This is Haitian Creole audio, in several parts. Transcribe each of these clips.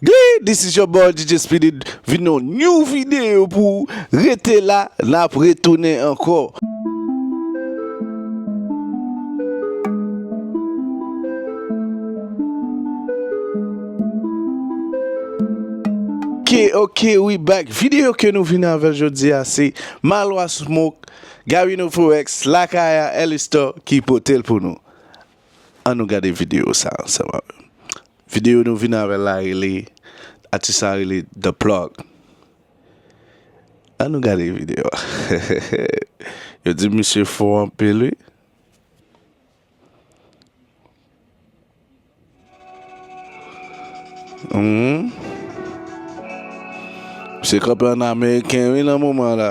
Gee this is your boy DJ Speedy vin yon new video pou ou rete la nap retounen ankò. Ok ok we back video ke nou vin avèl jodia se Maloy Smoke, Garino Forex, Lakaya, Elystor ki potel pou nou. An nou gade video sa ansanm avèm. Video nou vin avèl la rele atis la rele the plug an nou gade video a yo di misye fò anpil wi. Misye kanpe an ameriken wi nan moman la.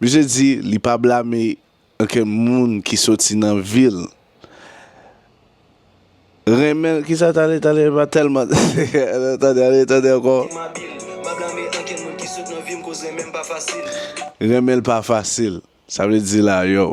Misye di li pa blame okenn moun ki soti nan vil renmen kisa tale tale pa telman tande ale tande anko. Renmen l pa fasil sa vle di la yow.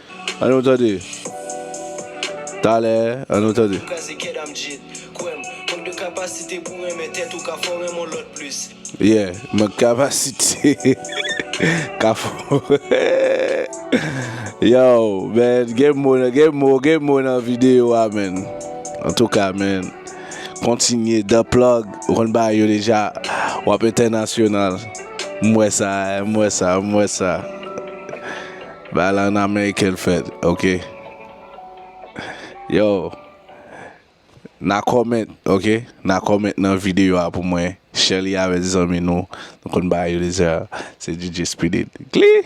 An nou tande. Talè an nou tande. Yeah mank kapasite ka fò Yow man gen mo gen mo gen mo nan video a man Antouka man kontinye The plug ou konn bagay yo deja wap entènasyonal M wè sa m wè sa m wè sa. Bagay la an ameriken l fèt ok yo na comment ok na comment nan video a pou mwen share li avè zanmi nou nou konn bagay yo deja se DJ speedy glee.